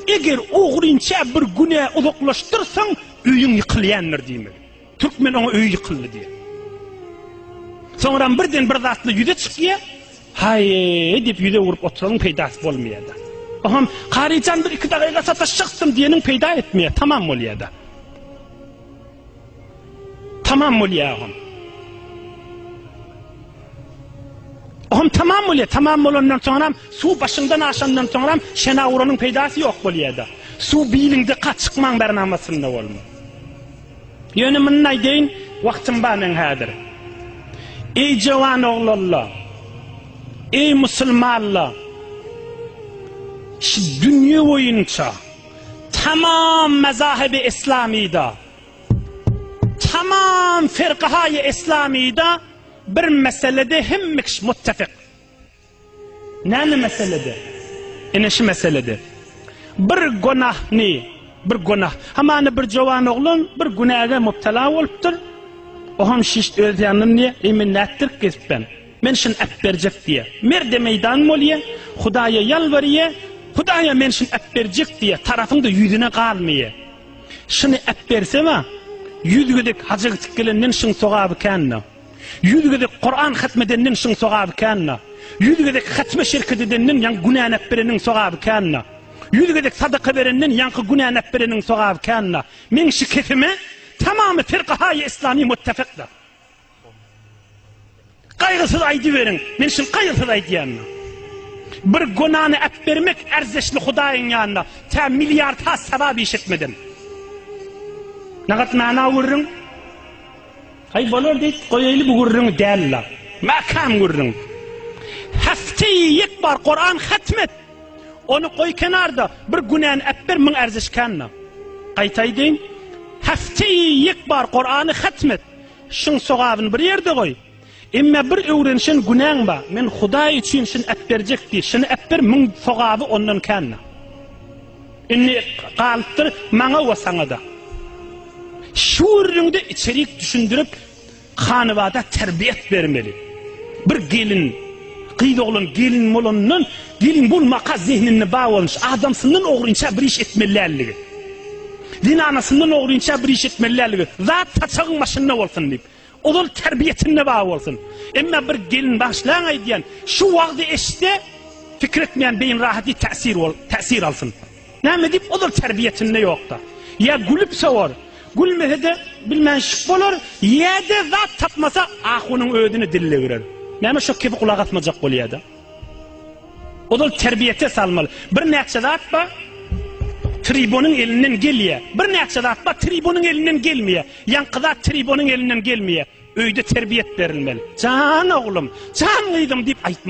Eger ogrynça bir günä uzaklaşdyrsaň, öýüň ýykylýandyr diýmeli. Türkmen oňa öýi ýykyldy diýýär. Soňram birden bir zatla ýüze çykýar. Haý, diýip ýüze urup oturyň peýdasy bolmaýar-da. Oham, Karyjan bir iki dagyga sataşjakdym diýeniň peýda etmeýär, tamam bolýar-da. Tamam bolýar oham. Oham tamam bolýar. Tamam bolandan soňam suw başyňdan aşandan soňam şena uranyň peýdasy ýok bolýar-da. Suw biliňde ka çykmaň bäri namasynda bolma. Ýöne muny aýdaýyn, wagtym bar men häzir. Eý jawan oglanlar, eý musulmanlar, şu dünýe boýunça tamam mazahib-i islamyda Tamam ferkahaýy eslamyda bir meselede hemme kişi muttefik. Näme meselede? Ine şu meselede. Bir gunahny, bir gunah. Hamana bir jowan oglan bir günäge mubtala bolupdyr. O hem şiş öz ýanyndan diýe, "Eý men nätdirip gezip ben? Men şun äp berjek" diýe. Merde meýdan bolýa, Hudaýa ýalbarýa, Hudaýa men şun äp berjek diýe, tarapyňda ýüzüne galmaýa. Şyny äpbersem-ä, ýüz gezek haja gitip gelenden şyň sogaby kän-dä. Ýüz gezek Kuran hatm edenden şyň sogaby kän-dä. Ýüz gezek hatme şerket edenden ýaňy günäni äpbereniň sogaby kän-dä. Ýüz gezek sadaka berenden ýaňky günäni äpbereniň sogaby kän-dä. Meň şikesime tamamy firkahaýy islami muttefykdyr. Gaýgysyz aýdyberiň. Men şul gaýgysyz aýdýan. Bir gonany äp bermek erzeşli Hudaýyň ýanyna. Tä milliard has sawap iş etmeden. Nagat mana gurrun. Aý bolar diýip goýaýly bu gurrun däl-la. Mäkäm gurrun. Häfte ýek bar Kur'an hatmet. Onu goý kenarda bir günäni äp ber müň erzeşkänna. Gaýtaýdyn. Häfte ýek bar Kur'any hatmet. Şuň sogabyny bir ýerde goý. Emma bir öwrenişen günäň ba, men Hudaý üçin şuny äpberjek diý, şuny äpber müň sogaby ondan kände. Indi galypdyr maňa we saňa-da. Şu gürrüňde içerik düşündirip, hanabada terbiýet bermeli. Bir gelin. Gyz oglan gelin bolandan gelin bolmaka zehninde bar bolmuş adamsyndan ogrynça bir iş etmeli däldigi. Zenanasyndan ogrynça bir iş etmeli däldigi. Zat saçagyň başynda bolsun diýip. Ozal terbiýesinde bar bolsun. Emma bir gelin başlaň aýdýan şu wagzy eşitse fikir etmeýän beýin rahat diýip täsir bol täsir alsyn. Näme diýip ozal terbiýesinde ýokda. Ýa gülüp sowar, gülmese-de bilmän şyp bolar, ýa-da zat tapmasa ahunyň özüni diline girer. Näme şo kebi gulak asmajak bolýada. Ozal terbiýete salmaly. Birnäçe zat bar, tribonyň elinden gelýär. Birnäçe zat bar, tribonyň elinden gelmeýär. Ýaňky zat tribonyň elinden gelmeýär. Öýde terbiýet berilmeli. Jan oglum, jan gyzym diýip aýtmaly.